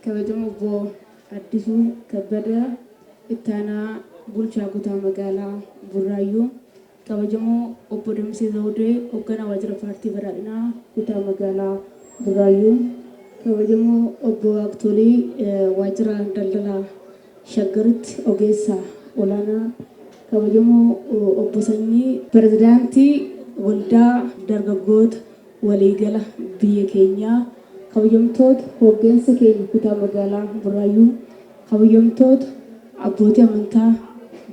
kabajamoo obbo Addisuu Kabbadaa ittaanaa bulchaa kutaa magaalaa Burraayyuu, kabajamoo obbo Damsee Zawudee hoogganaa waajjira paartii badhaadhinaa kutaa magaalaa Burraayyuu, kabajamoo obbo Waaqtolii waajjira daldalaa Shaggaritti Ogeessa Olaanaa Kabajamoo Obbo Sanyii. Pirezidaantii Waldaa Dargaggoota Waliigala Biyya Keenyaa, Kabajamtoota Hooggansa Keenya Kutaa Magaalaa Burraayyuu, Kabajamtoota Abbootii Amantaa,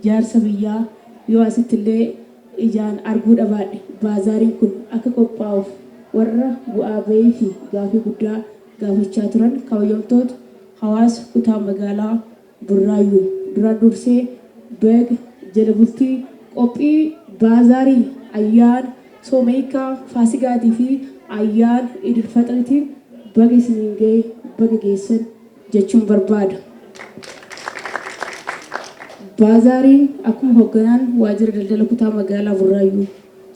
Jaarsa Biyyaa, yoo asitti illee ijaan arguu dhabaadhe, Baazaariin kun akka qophaa'uuf warra bu'aa ba'ii fi gaafii guddaa gaafachaa turan kabajamtoota hawaasa kutaa magaalaa Burraayyuu duraan dursee baga jala bultii qophii baazaarii ayyaana sooma hiikkaa faasigaatii fi ayyaana idil faxiritiin baga isiniin gahe baga geessan jechuun barbaada. Baazaariin akkuma hogganaan waajjira daldala kutaa magaalaa Burraayyuu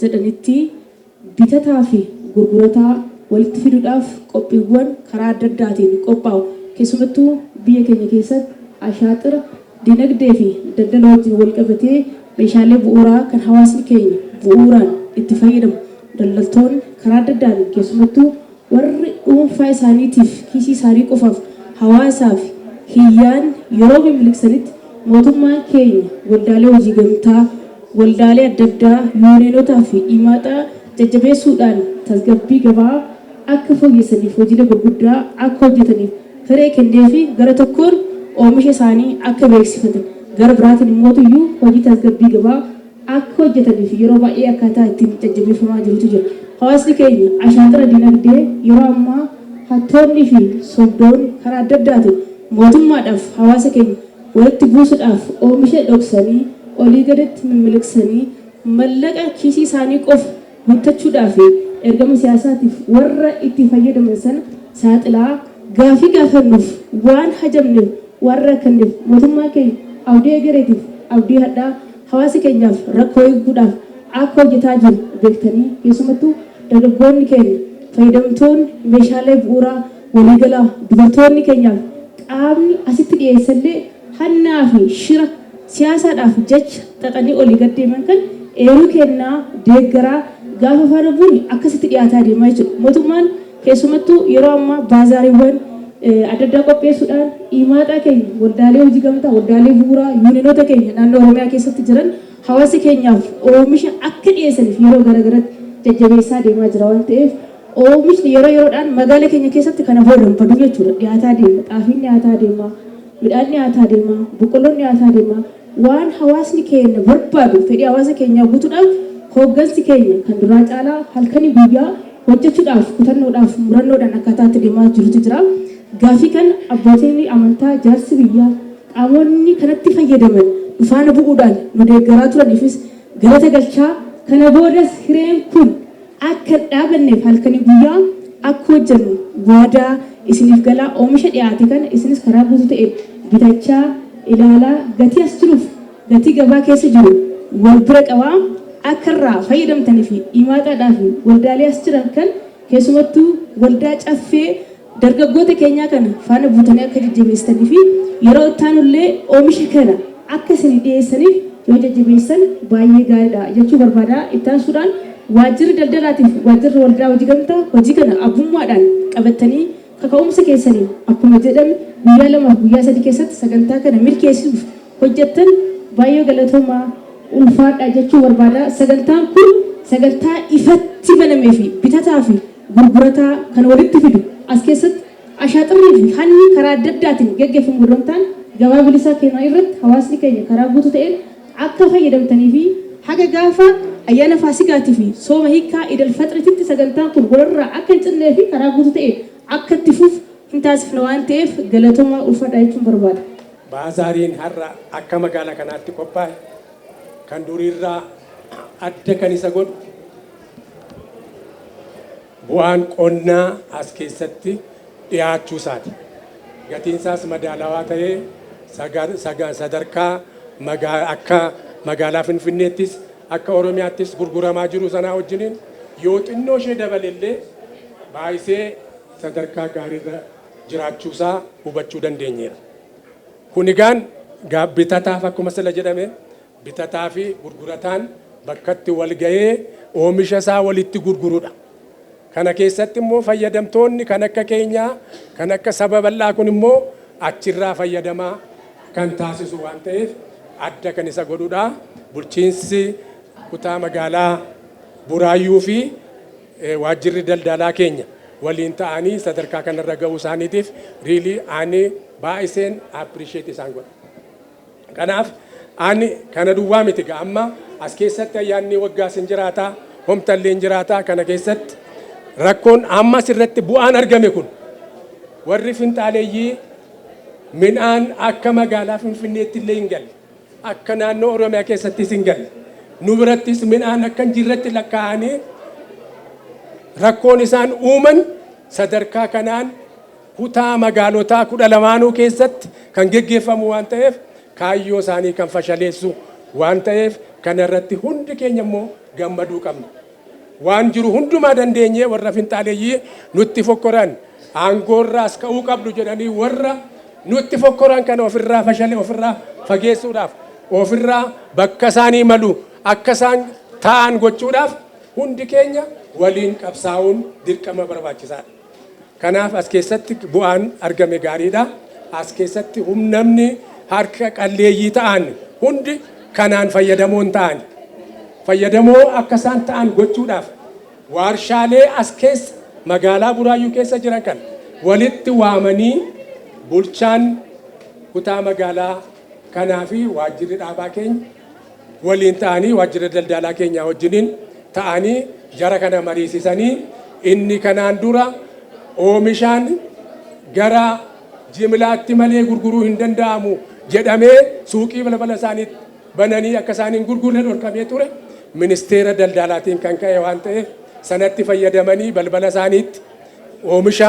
jedhanitti bitataa fi gurgurataa walitti fiduudhaaf qophiiwwan karaa adda addaatiin qophaa'u keessumattuu biyya keenya keessatti ashaaxira dinagdee fi daldala wajjin walqabatee meeshaalee bu'uuraa kan hawaasni keenya bu'uuraan itti fayyadamu daldaltoonni karaa adda addaan keessumattuu Warri dhuunfaa isaaniitiif, kiisii isaanii qofaaf, hawaasaaf hin yaadne yeroo mimiliqsanitti mootummaan keenya waldaalee hojii gamtaa, waldaalee adda addaa, yuuniyeenotaa fi iimaaxaa jajjabeessuudhaan tasgabbii gabaa akka fooyyessaniif hojiilee gurguddaa akka hojjetaniif hiree kenneefi gara tokkoon oomisha isaanii akka beeksifatan gara biraatiin immootuyyuu hojii tasgabbii gabaa akka hojjetaniif yeroo baay'ee akkaataa ittiin jajjabeeffamaa jirutu jira. Hawaasni keenya ashaaxira dinagdee yeroo ammaa hattoonnii fi sobdoonni karaa adda addaatiin mootummaadhaaf hawaasa keenya walitti buusudhaaf oomisha dhoksanii olii gaditti mimmiliqsanii mallaqa kiisii isaanii qofa guuttachuudhaa fi ergama siyaasaatiif warra itti fayyadaman sana saaxilaa gaaffii gaafannuuf waan hajamneef waan rakkanneef mootummaan keenya abdii egereetiif abdii hadhaa Hawaasa keenyaaf rakkoo hiikuudhaaf akka hojjetaa jirru beektanii keessumattuu dargaggoonni keenya fayyadamtoonni meeshaalee bu'uuraa waliigalaa dubartoonni keenyaaf qaamni asitti dhiyeessellee hannaa fi shira siyaasaadhaaf jecha xaxanii olii gad deeman kan eeruu kennaa, deeggaraa, gaafa faana buune akkasitti dhiyaataa deema jechuudha. Mootummaan. Keessumattuu yeroo ammaa baazaariiwwan adda addaa qopheessuudhaan iimaaxaa keenya waldaalee hojii gamtaa, waldaalee bu'uuraa, yuuninoota keenya naannoo Oromiyaa keessatti jiran hawaasa keenyaaf oomisha akka dhiyeessaniif yeroo gara garatti jajjabeessaa deemaa jira waan ta'eef oomishni yeroo yeroodhaan magaala keenya keessatti kana booda hin badu jechuudha. Dhiyaataa deema. Xaafiin dhiyaataa deema. Midhaan dhiyaataa deema. Boqqolloon dhiyaataa deema. Waan hawaasni keenya barbaadu, fedhii hawaasa keenyaa guutuudhaaf hooggansi keenya kan duraa caalaa halkanii guyyaa hojjechuudhaaf kutannoodhaaf murannoodhaan akkaataa itti deemaa jirutu jira. Gaaffii kana abbootiin amantaa, jaarsi biyyaa, qaamonni kanatti fayyadaman nu faana bu'uudhaan nu deeggaraa turaniifis galata galchaa, kana boodas hireen kun Akka hin dhaabanneef halkanii guyyaa akka hojjennu waadaa isiniif galaa oomisha dhiyaate kana isinis karaa guutuu ta'een bitachaa, ilaalaa, gatii as jiruuf gatii gabaa keessa jiru wal bira qabaa akka irraa fayyadamtaniifi imaataadhaafi waldaalee as jiran kan keessumattuu waldaa Caffee Dargaggoota keenyaa kana faana buutanii akka jajjabeessitanii fi yeroo itti aanu illee oomisha kana akka isinii dhiyeessaniif yoo jajjabeessitan baay'ee gaarii dha jechuu barbaada. Itti aansuudhaan Waajjirri Daldalaatii fi Waajjirri Waldaa Hojii Gamtaa hojii kana abbummaadhaan qabattanii kaka'umsa keessaniin akkuma jedhame guyyaa lamaa fi guyyaa sadii keessatti sagantaa kana milkeessuuf hojjettan baay'ee galatoomaa, ulfaadhaa jechuu barbaada. Sagantaan kun sagantaa ifatti banamee fi bitataa fi. gurgurataa kan walitti fidu. As keessatti ashaaxirrii fi hanni karaa adda addaatiin geggeffamu odoo hin taane gabaa bilisaa keenyaa irratti hawaasni keenya karaa guutuu ta'een akka fayyadamtanii fi haga gaafa ayyaana Faasigaati fi sooma hiikkaa Iid Alfaxrititti sagantaan kun wal irraa akka hin cinnee fi karaa guutuu ta'een akka itti fufu hin taasifna waan ta'eef galatomaa ulfadhaa jechuun barbaada. Baazaariin har'a akka magaala kanaatti qophaa'e kan durii irraa adda kan isa godhu, Bu'aan qonnaa as keessatti dhiyaachuu isaati. Gatiin isaas madaalawaa ta'ee sagar- saga- sadarkaa magaa- akka magaalaa Finfinneettis akka Oromiyaattis gurguramaa jiru sanaa wajjiniin yoo xinnoo ishee dabale illee baay'isee sadarkaa gaariirra jiraachuu isaa hubachuu dandeenyeera. Kun egaan gaa bitataaf akkuma sila jedhame Bitataafi gurgurataan bakkatti walga'ee oomisha isaa walitti gurgurudha. Kana keessatti immoo fayyadamtoonni kan akka keenyaa, kan akka saba bal'aa kun immoo achirraa fayyadamaa kan taasisu waan ta'eef adda kan isa godhudha. Bulchiinsi kutaa magaalaa Buraayyuu fi waajjirri daldaalaa keenya waliin ta'anii sadarkaa kanarra ga'uu isaaniitiif really ani baay'iseen appreciate isaan godha. Kanaaf ani kana duwwaa miti egaa amma as keessatti ayyaanni waggaas hin jiraata, homtallee hin jiraata kana keessatti rakkoon amma as irratti bu'aan argame kun warri finxaaleeyyii midhaan akka magaalaa Finfinneetti illee hin galle, akka naannoo Oromiyaa keessattis hin galle, nu birattis midhaan akka hin jirretti lakkaa'anii rakkoon isaan uuman sadarkaa kanaan kutaa magaalotaa 12nuu keessatti kan geggeeffamu waan ta'eef kaayyoo isaanii kan fashaleessu waan ta'eef kana irratti hundi keenya immoo gammaduu qabna. Waan jiru hundumaa dandeenyee warra finxaaleyyii nutti fokkoran aangoorraas ka'uu qabdu jedhanii warra nutti fokkoran kana ofirraa fashale ofirraa fageessuudhaaf ofirraa bakka isaanii malu akka isaan taa'an gochuudhaaf hundi keenya waliin qabsaa'uun dirqama barbaachisaadha. Kanaaf as keessatti bu'aan argame gaariidha. As keessatti hum namni harka qalleeyyii ta'an hundi kanaan fayyadamoo hin ta'ani. Fayyadamoo akka isaan ta'an gochuudhaaf waarshaalee as keessa magaalaa Buraayyuu keessa jiran kana walitti waamanii bulchaan kutaa magaalaa kanaa fi waajjirri dhaabaa keenya waliin ta'anii waajjira daldaalaa keenyaa wajjiniin ta'anii jara kana mariisisanii inni kanaan dura oomishaan gara jimlaatti malee gurguruu hin danda'amu jedhamee suuqii balbala isaaniitti bananii akka isaan hin gurgurre dhorkamee ture ministeera daldaalaatiin kan ka'e waan ta'eef sanatti fayyadamanii balbala isaaniitti oomisha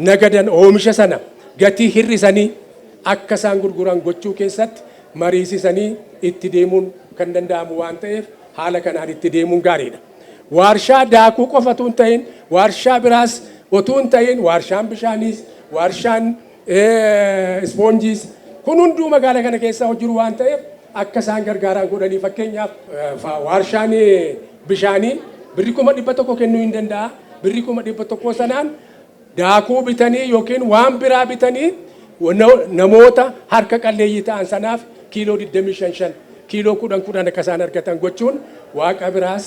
nagadan oomisha sana gatii hir'isanii akka isaan gurguran gochuu keessatti mariisisanii itti deemuun kan danda'amu waan ta'eef haala kanaan itti deemuun gaariidha. Waarshaa daakuu qofa utuu hin ta'iin waarshaa biraas utuu hin ta'iin waarshaan bishaaniis, waarshaan ispoonjiis kun hunduu magaala kana keessaa hojjiru waan ta'eef akka isaan gargaaraan godhanii fakkeenyaaf waarshaan bishaanii birri kuma dhibba tokko kennuu hin danda'a. Birri kuma dhibba tokkoo sanaan Daakuu bitanii ykn waan biraa bitanii namoota harka qalleeyyii ta'an sanaaf kiiloo 20 shan shan, kiiloo 10 kudhan akka isaan argatan gochuun Waaqa biraas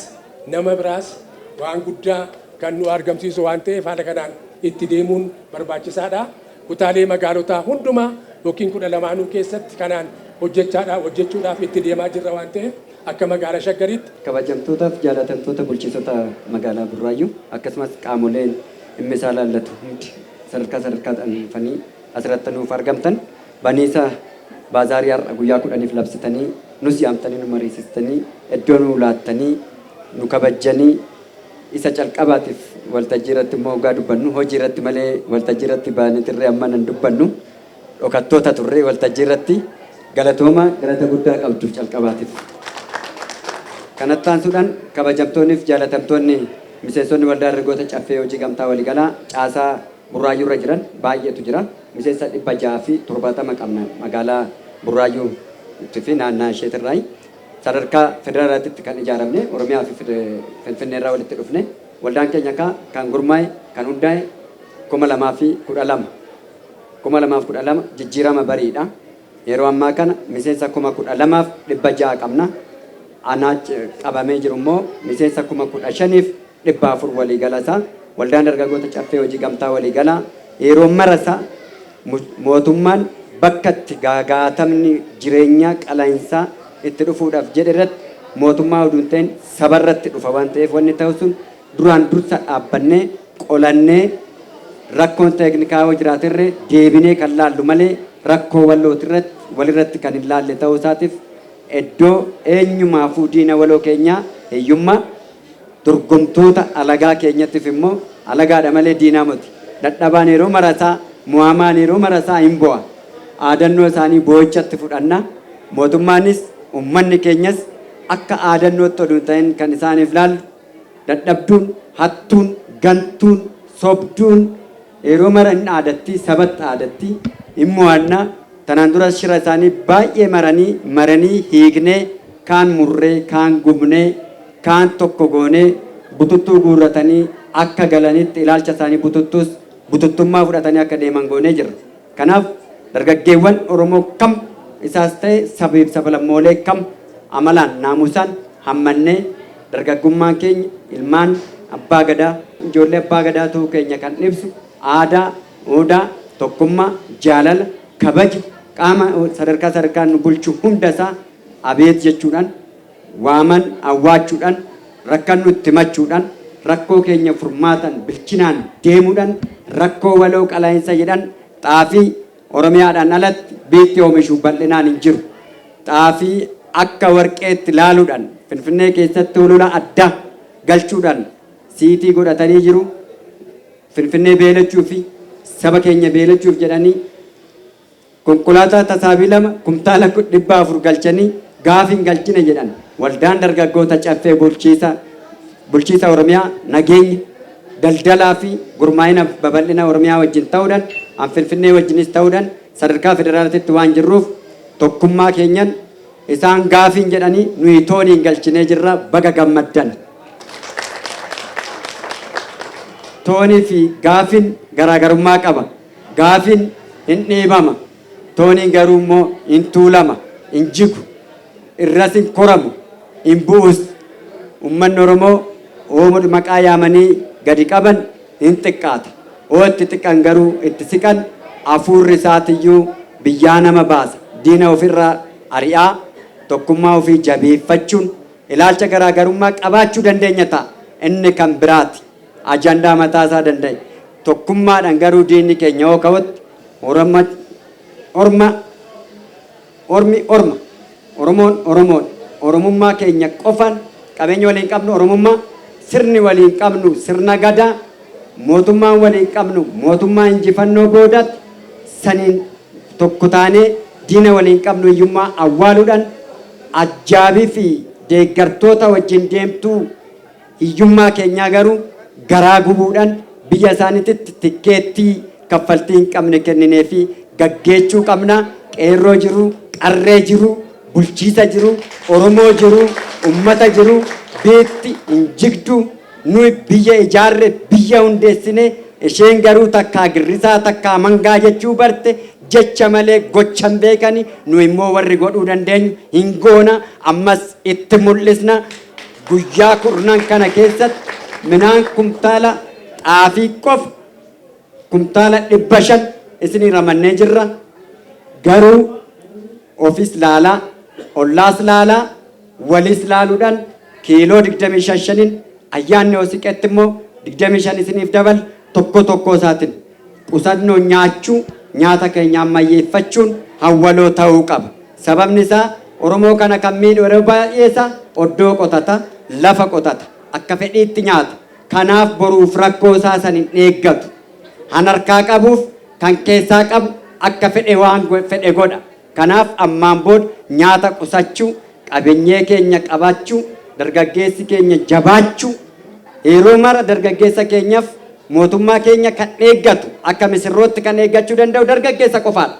nama biraas waan guddaa kan nuu argamsiisu waan ta'eef haala kanaan itti deemuun barbaachisaa dha. Kutaalee magaalotaa hundumaa ykn 12nuu keessatti kanaan hojjechaa dha, hojjechuudhaaf itti deemaa jirra waan ta'eef akka Magaala Shaggariitti. Kabajamtootaaf Jaalatamtoota Bulchiisota Magaalaa Burraayyuu akkasumas qaamoleen. dhimma isaa ilaallatu hundi sadarkaa sadarkaadhaan dhufanii asirratti nuuf argamtan baniisa baazaarii har'a guyyaa kudhaniif labsitanii nus yaamtanii nu mariisistanii iddoo nu laattanii nu kabajjanii isa calqabaatiif waltajjii irratti immoo hoggaa dubbannu hojii irratti malee waltajjii irratti baanee tirree amma nan dubbannu dhokattoota turre waltajjii irratti galatoomaa galata guddaa qabdu calqabaatiif. Kanatti aansuudhaan kabajamtoonniif jaalatamtoonni miseensonni Waldaa Dargaggoota Caffee Hojii Gamtaa Waligalaa caasaa Burraayyuu irra jiran baay'eetu jira. Miseensa 670 qabna magaalaa Burraayyuu itti fi naannaa isheet irraayi. Sadarkaa federaalaatitti kan ijaaramne Oromiyaa fi Finfinnee irraa walitti dhufne. Waldaan keenya kaa kan gurmaa'e kan hundaa'e 2012. 2012 jijjiirama bariidha. Yeroo ammaa kana miseensa 12,600 qabna. Anaa qabamee jiru immoo miseensa 15,400 waliigala isaa. Waldaan Dargaggoota Caffee Hojii Gamtaa Waliigalaa yeroo mara isaa mootummaan bakka itti gaagaatamni jireenyaa qalainsaa itti dhufuudhaaf jedhe irratti mootummaa uduun ta'in saba irratti dhufa waan ta'eef wanni ta'u sun Duraan dursa dhaabbannee, qolannee, rakkoon teeknikaa yoo jiraate irre deebinee kan laallu malee rakkoo walooti irratti, wal irratti kan hin laalle ta'uu isaatiif eddoo eenyumaafuu diina waloo keenyaa hiyyummaa, dorgomtoota alagaa keenyattif immoo alagaadha malee diinaa moti. Dadhabaan yeroo marasaa, mo'amaan yeroo marasaa hin bo'a. Aadannoo isaanii boo'ichatti fudhanna. Mootummaanis, ummanni keenyas akka aadannootti odu hin ta'in kan isaaniif laallu, Dadhabduun, hattuun, gantuun, sobduun yeroo mara hin dhaadatti, sabatti dhaadatti, hin mo'anna. Tanaan duras shira isaanii baay'ee maranii maranii hiiknee, kaan murree, kaan gubnee, kaan tokko goonee bututtuu guurratanii akka galanitti ilaalcha isaanii bututtuus bututtummaa fudhatanii akka deeman goonee jirra. Kanaaf dargaggeewwan Oromoo kam isaas ta'e sabeef sabalammoolee kam amalaan, naamusaan hammannee dargaggummaan keenya ilmaan Abbaa Gadaa, ijoollee Abbaa Gadaa ta'uu keenya kan ibsu aadaa, uudaa, tokkummaa, jaalala, kabaja qaama sadarkaa sadarkaan nu bulchu hunda isaa abeet jechuudhaan, waaman awwaachudhan rakkannu itti himachuudhan rakkoo keenya furmaatan bilchinaan deemudhan rakkoo waloo qalainsa jedhan xaafii Oromiyaadhan alatti biitti oomishu bal'inaan hin jiru. Xaafii akka warqeetti laaludhan Finfinnee keessatti holola adda galchudhan siitii godhatanii jiru. Finfinnee beelachuufi saba keenya beelachuuf jedhanii Konkolaataa tasaabii 2 kumtaala 400 galchanii gaafa hin galchine jedhan Waldaan Dargaggoota Caffee Bulchiisa Bulchiisa Oromiyaa Nageenya, Daldalaa fi Gurmaa'ina Babal'ina Oromiyaa wajjin ta'uudhan an Finfinnee wajjinis ta'uudhan sadarkaa Federaalatitti waan jirruuf tokkummaa keenyan isaan gaafiin jedhanii nuyi tooniin galchinee jirra baga gammaddan. Toonii fi gaafin garaagarummaa qaba. Gaafin hin dhiibama, tooniin garuu immoo hin tuulama, hin jigu, irras hin koramu, hin bu'us. Ummanni Oromoo oomudha maqaa yaamanii gadi qaban hin xiqqaata. Hoo itti xiqan garuu itti siqan afuurri isaatiyyuu biyyaa nama baasa. Diina ofirra ari'aa tokkummaa ofii jabeeffachuun ilaalcha garaagarummaa qabaachuu dandeenya ta'a. Inni kan biraati. Ajandaa mataa isaa danda'e. Tokkummaadhaan garuu diinni keenya yoo ka'utti Oromma Orma Ormi Orma Oromoon Oromoodha. Oromummaa keenya qofaan qabeenya waliin qabnu Oromummaa, sirni waliin qabnu sirna Gadaa, mootummaan waliin qabnu mootummaa injifannoo boodaatti saniin tokko taanee diina waliin qabnu hiyyummaa awwaaluudhaan ajjaabiifi deeggartoota wajjin deemtuu Hiyyummaa keenyaa garuu garaa gubuudhan biyya isaanititti tikkeettii kaffaltii hin qabne kennineefii gaggeechuu qabna. Qeerroo jiru, qarree jiru, bulchiisa jiru, Oromoo jiru, ummata jiru biitti hin jigdu. Nuyi biyya ijaarre, biyya hundeessine, isheen garuu takkaa girrisaa takkaa mangaa jechuu barte, jecha malee gocha hin beekani, nuyi immoo warri godhuu dandeenyu hin goona, ammas itti mul'isna. Guyyaa kurnan kana keessatti midhaan kumtaala xaafii qofa kumtaala 500 isinii ramannee jirra. Garuu ofis laalaa, ollaas laalaa, waliis laaluudhaan kiiloo 25 shaniin ayyaanni yoo siqetti immoo 25 isiniif daballa tokko tokkoo isaatiin. qusannoon nyaachuu, nyaata keenya ammayyeeffachuun hawwaloo ta'uu qaba. Sababni isaa Oromoo kana kan miidhu yeroo baay'ee isaa oddoo qotata, lafa qotata, akka fedhiitti nyaata. Kanaaf boruuf rakkoo isaa san hin eeggatu. Han harkaa qabuuf kan keessaa qabu akka fedhe waan fedhe godha. Kanaaf ammaan booda nyaata qusachuu, qabenyee keenya qabachuu, dargaggeessi keenya jabaachuu, yeroo mara dargaggeessa keenyaf mootummaa keenya kan eeggatu, akka misirrootti kan eeggachuu danda'u dargaggeessa qofaadha.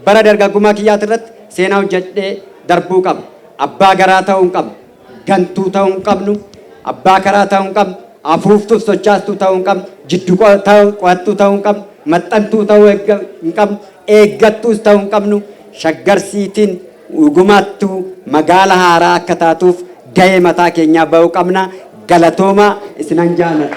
Bara dargaggummaa kiyyaatirratti seenaa hojjedhee darbuu qaba. Abbaa garaa ta'uun qaba. gantuu ta'uu hin qabnu, abbaa karaa ta'uu hin qabnu, afuuftuuf sochaastuu ta'uu hin qabnu, jiddu qo'attuu ta'uu hin qabnu, maxxantuu ta'uu hin qabnu, eeggattuus ta'uu hin qabnu. Shaggar Siitiin dhugumaattuu magaala haaraa akka taatuuf gahee mataa keenyaa ba'uu qabna. Galatoomaa isinan jaaladha.